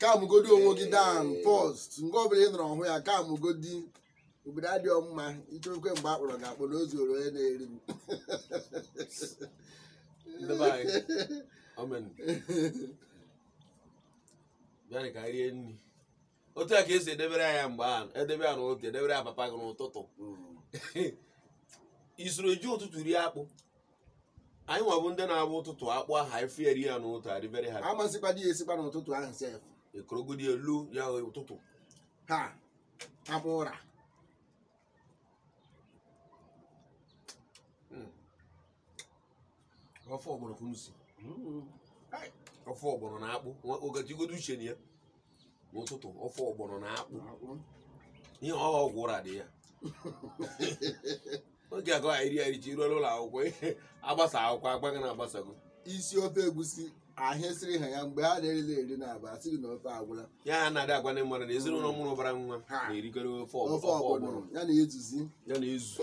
calm godi onwe gị down first mgbe ọbụla ị nọrọ ọhụ ya calm godi obodo adịghị mma ichekwe mgbe a kpọrọ ga-akpọ na ozu onye na-eri m ndị be anyị amen bịanị ka anyị rie nri otu a ka esi edebere ya mgbe ahụ edebe ya n'ụtụtụ edebere ya papa gị n'ụtụtụ i soro ji ụtụtụ rie akpụ anyị nwa bụ ndị na-abụ ụtụtụ akpụ ahụ efieri ya n'ụtụtụ adị very happy a ma sikwadị ya esikwa n'ụtụtụ ahụ sef ekorogodi elu ya ụtụtụ ha abụ ụra hmm. ofe ọgbọrọ ka unu si hmm. ofe ọgbọrọ na akpụ ogajigodo uche na ya n'ụtụtụ ofe ọgbọnọ na akpụ ihe ọ ọgwụ ụra dị ya oge agụ anyị ri anyị ji ruo n'ụlọ akwụkwọ ihe agbasa akwụkwọ agwa gị na agbasago isi ofe egusi ahụ esiri ha ya mgbe ha na-erila eri na aba asịrị na ofe agwụla ya ha na-adị agwa ndị mmadụ na ezinụlọ mụrụ ụbara nwa Ha. na-erikọrọ ofe ọgbọ- ofe ofe ọgbọnọ ọgbọnọ ya na ezuzi ya na-ezu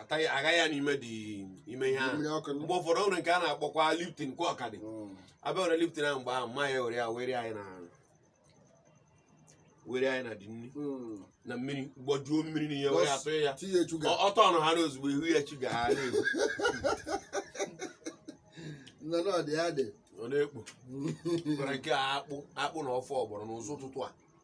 ataghị agaghị ya n'ime dị ime ihe ahụ mmiri ọkụ mgbe ụfọdụ o nwere nke a na-akpọkwa Lipton kwa ọ ka dị Mm. abịa were Lipton ahụ mgbe ahụ mma ya were ya were anyị na were anyị na dị nri Mm. na mmiri gbajuo mmiri n'ite were ya tụọ ya tinye sugar Ọ- ọtọ ọnụ ha na ozugbo ihu ya chi ga ha na-egbu nna na ọdị ya dị ọ na-ekpo gwara nke a akpụ akpụ na ofe ọgbọrọ n'ụzọ ụtụtụ a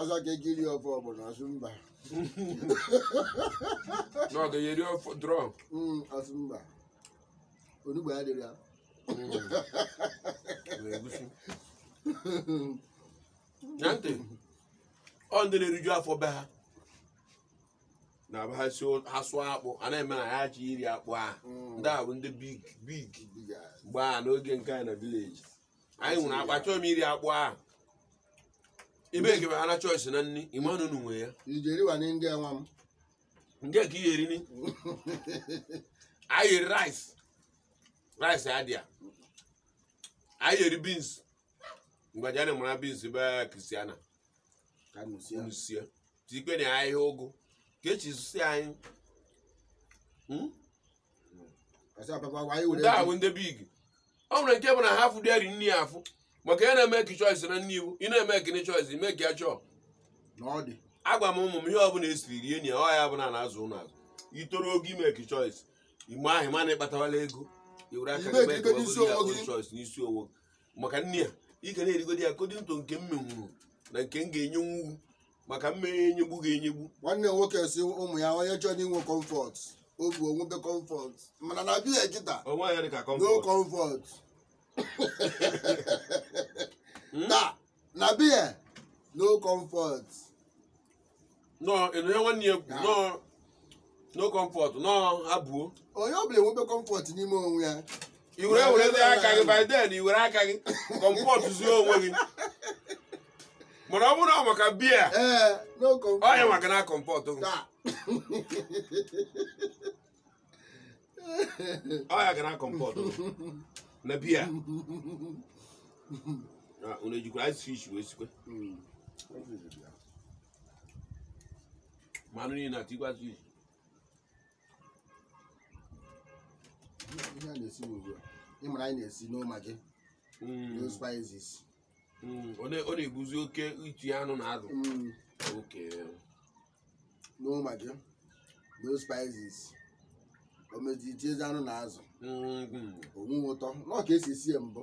ọzọ ka ego iri ofe ọgbọnọ ọ sị mba na ọ ga-eri ofe draw Mm, ọ sị mba onugbu adịrị ya egusi na ntị ọ ndị na-eriju afọ be ha na be ha si ha sụọ akpụ a na-eme na ya ji iri akpụ a Mm. ndị a bụ ndị big big Big ass. mba n'oge nke anyị na village anyị nwere akpa chọọ m iri akpụ ahụ ebe ekebe ha na choice na nri ịmanụ unu nwe ya ijeriwa na ndị nwa m nke ka ihe erini anyị eri rice rice adịa anyị eri beans mgbe a ji na-emara beans be Christiana ka m sie unu sie tikwe na ahịhịa ụgụ ka echi si anyị Hmm? Ọsọ papa gwa anyị were ndị a bụ ndị big ọ nwere nke bụ na ha afụ dịari nri ya afụ maka ya na-emake choice na nri iwu ị na-emake choice ime ka ya chọọ na ọ dị. agwa m ụmụ m ihe ọbụla esiri rie nye ọ ya bụ na a na-azụ unu azụ i toro oge ị make choice mgbe ahụ mana ịkpatawala ego i were aka Ime gị mee ka ekike n'isi ọ bụrụ ya onwe bụ gị. choice n'isi onwe gị. maka nne ya ị ga na-erigodi ya ka ọ dị ntụ nke m menwuru na nke m ga-enyenwu maka mmeghe enyegbu gị enyegbu nwanne m nwoke sị ụmụ ya onye chọrọ inwe comfort ọ pụọ o nwebe comfort mana na be ya kịta onwe ya dị ka no comfort comfort Hmm? na na be ya no comfort nọọ ịnụ ya nwanne ya kwu nọọ no comfort nọ abụo onye ọbụla enwebe comfort n'ime onwe ya i were were ndị aka gị by then i were aka gị comfort zuo onwe gị mana ọ bụrụ na ọ maka be ya ee no comfort. ọ ya maka na comfort gị Taa. ọ ya ga na comfort gị na be ya unu ejikwa ice fish wee sikwe Mm. mmanụ niile atikwasị isi ihe a na-esi ugbu a ị mara anyị na-esi no Maggi Mm, no spices mm, ọ na- ọ na-ebuzi oke iti anụ na azụ Mm, okay no Maggi no spices o mezie itiezi anụ na azụ Mm, mm. o nwe ụtọ n'ọ ka e si sie mbụ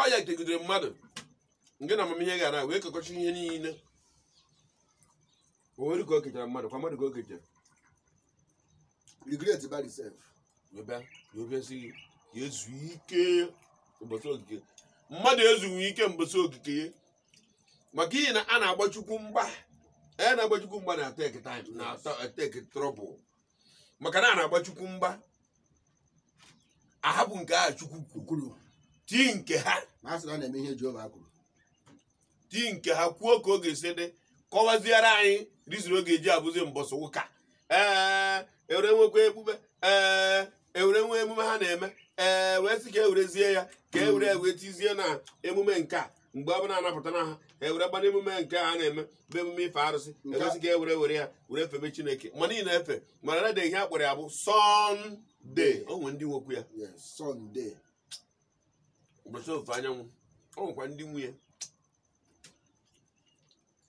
ọ ya kegidere mmadụ nke na amamihe gara wee kekọcha ihe niile o nwere ka o kechara mmadụ kwa mmadụ ka o kechara regret by yourself wee bịa wee bịa sị gị ka e zu ike ụbọchị okike mmadụ ezughị ike mbọsị okike ya maka ihe na a na-agba chukwu mgba a na-agba chukwu mgba na take time na take trouble maka na a na-agba chukwu mgba a hapụ nke a chukwu kwuru tii nke ha ma a sị na ọ na-eme ihe Jehova kwuru tii nke ha kwuo ka ọ ga-esi dị kọwaziere anyị reason ọ ga-eji abụzi mbọsị ụka ee e were nwekwa ekpube ee e were nwe emume ha na-eme ee wee sị ka e werezie ya ka e were wee tizie na emume nke a mgbe ọ bụla a na-apụta na ha ha e were bana emume nke a na-eme bụ emume ife arụsị Nke a- e wee sị ka e were were ya were febe chineke ma niile efe mana na ihe a kpọrọ ya bụ Sunday o nwere ndị nwekwu ya Yes, Sunday. ụbọchị ofufe anyanwụ o nwekwa ndị nwe ya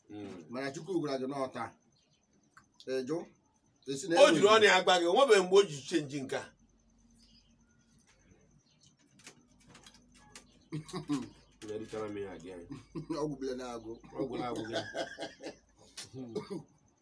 Mm. mana chukwu gwara gị n'ọta ịjụ esi na o jiri ọnụ ya gwa gị o nwebeghị mgbe o ji change nke a Erichara m ya adị anyị. ọgwụ bile na-agụ Ọ gwụla agwụ gị.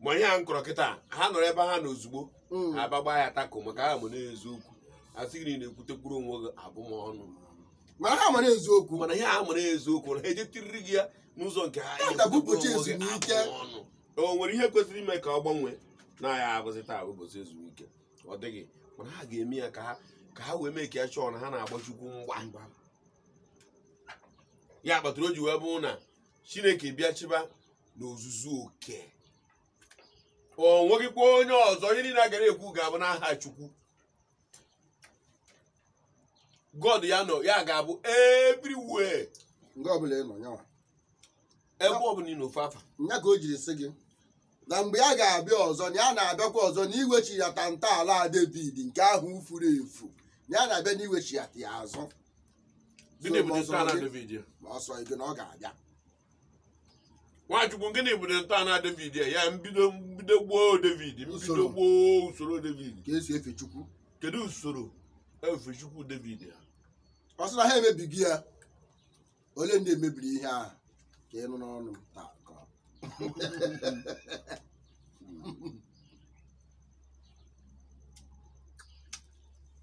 ma ihe a m kọrọ kịta ha nọrọ ebe ha na ozugbo Mm. ha gbagba ya tako maka ha ma na eziokwu asị gị na ị na-ekwutekwuru onwe gị abụmọnụ mana ha mara eziokwu mana ihe ha mara eziokwu na ha ejetiriri gị ya n'ụzọ nke ha Ya ga-abụ ụbọchị Onwe gị ezumike. abụ ọnụ. o nwere ihe kwesịrị ime ka ọ gbanwee na ya abụzị taa bụ ụbọchị ezumike ọ dịghị mana ha ga-eme ya ka ha ka ha wee mee ka ya chọọ na ha na-agba chukwu mgba ya kpatara o ji wee bụrụ na chineke bịa chịba n'ozuzu oke o nweghịkwa onye ọzọ ihe niile a gara ekwu ga-abụ n'aha chukwu god ya nọ ya ga-abụ everywhere nga ọbụla ị nọ nyanwa ebe ọbụla ị nọ fee afa nya ka o jiri sị gị na mgbe ya ga-abịa ọzọ na ya na-abịakwa ọzọ na iwechighata ntọala David nke ahụ furu efu na ya na-abịa na iwechighata ya azụ gịnị bụ So, ntọala ọzọ- David ya ma ọ sị gị na ọ ga-abịa nwachukwu gịnị bụ ntọala david ya ya mbido mbido gboo david mbido Usoro. gboo usoro david ka e si efe chukwu kedu usoro efe chukwu david ya ọ sị na ha emebigo ya ole ndị emebiri ihe ahụ ka ị nụ n'ọnụ m taa ka ọ-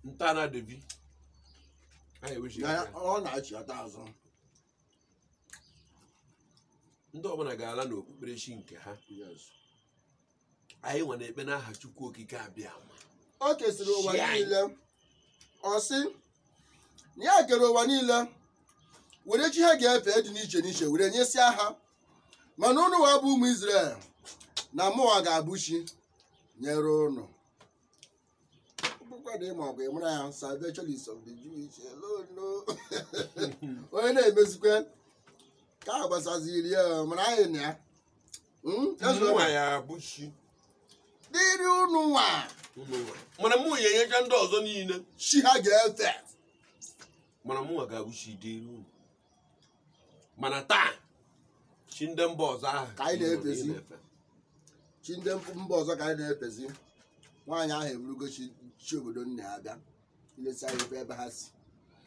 ntọala david anyị ewechighị Ya- ya. ya- ọ na-achịghata azụ ndị ọbụla ga-ala n'okpukperechi nke ha anyị nwa na-ekpe n'aha chukwu okike abịama o kesịrị ụwa Chi anyị. niile ọ sị na ya kere ụwa niile were chi ha ga-efe dị n'iche n'iche were nyesịa ha mana ụnụwa bụ ụmụ Izrel na mụwa ga-abụ chi nyere ụnụ bụkwa na ịma ọgụ ị mara ya salvation is of the Jewish alone no onye na-emezikwa ka a gbasaziri ya mana anyị na ya Mm, that's Mụ what- nwa ya bụ chi dịrị unu nwa ụmụ nwa. mana mụwa enyecha ndị ọzọ niile chi ha ga-efe mana mụ nwa ga-abụ chi dịrị unu mana taa chi ndị mba ọzọ ahụ Ka anyị na-efezi. na-efe. chi ndị mba ọzọ ka anyị na-efezi nwaanyị ahụ eburugo chi obodo nna ya bịa ilesi anya ebe ebe ha si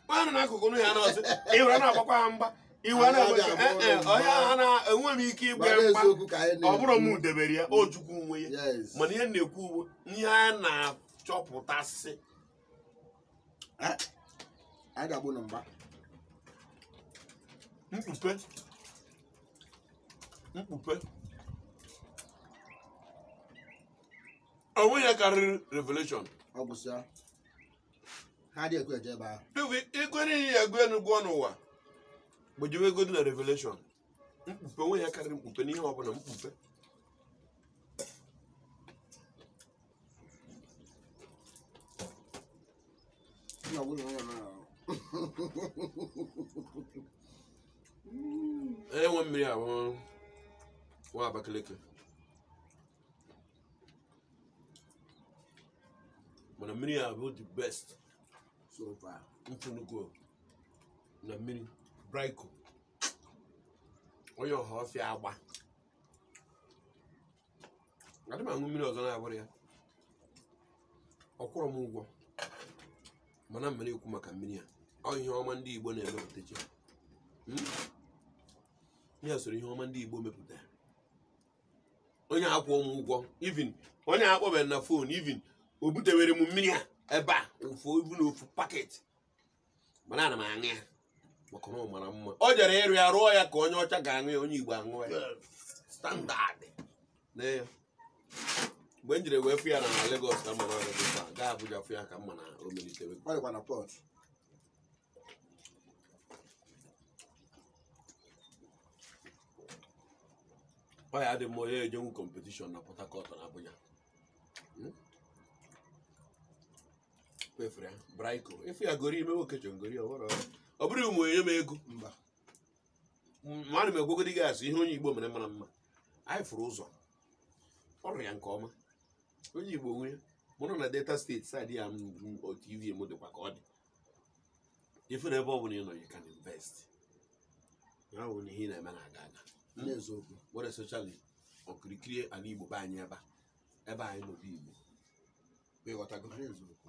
Onye nọ n'akụkụ nụ ya na-ọsị iwe na-agbakwa ha mgba iwe Anyị na-agba abịa "Eh, eh, abụọ onye ahụ na enwe m ike ịgba gbara ya mgba eziokwu ka anyị ọ bụrụ m na-ekwu. debere ya ọ chukwu nwe ya Yes. mana ihe m na-ekwu bụ ihe a na-achọpụtasị Eh, anyị ga-agbụ na mgba mkpupe mkpupe onwe ya karịrị revelation ọ gwụsịa ha dị ekwe eje ebe ahụ Dubi, ikwere ihe ya gụọ enu gụọ n'ụwa gbajiwe ego dị na revelation mkpupe onwe ya karịrị mkpupe n'ihe ọbụla mkpupe na nwunye onye mere ahụ e rewe mmiri ahụ na Abakaliki mana mmiri a bụ the best so far m fụnugo na mmiri Braiko onye Ọhọfịa Agba adị m aṅụ mmiri ọzọ na-abụrọ ya ọ kwụrọ m ụgwọ mana m mere ekwu maka mmiri a ọ ihe ọma ndị Igbo na-emepụta chi m ya soro ihe ọma ndị Igbo mepụta onye akwụ m ụgwọ even onye akpọbeghị m na phone even o butewere m mmiri a ebe a ofu even ofu packet mana ana m aṅụ ya maka na ọ mara mma o jere ịrụ ya rụọ ya ka onye ọcha ga-aṅụ ya onye igbo aṅụ ya standard na ya mgbe m jiri wee fụ ya na Lagos ka m ma na ọrụ dịkwa gaa Abuja fụ ya ka m ma na o melitewe Ọ dịkwa na Port ọ ya dị mma onye ejenwu competition na Port Harcourt na Abuja kpefuru ya braiko ị fụ ya gori ime nwoke chọ ngori ọhụrụ ọ bụrọ ma e nye m ego mba ma ana m agwagodi gị asị ihe onye igbo mere mara mma anyị fụrụ ụzọ ọ rụrụ ya nke ọma onye igbo nwe ya a mụrụ na Delta State side ya motive m dịkwa ka ọ dị ị fụ na ebe ọ bụla ị nọ you can invest ya bụ na ihe ị na-eme na-aga aga n'eziokwu were circle okirikiri ala igbo be anyị ebe a ebe anyị nọ bụ igbo ịghọtago n'eziokwu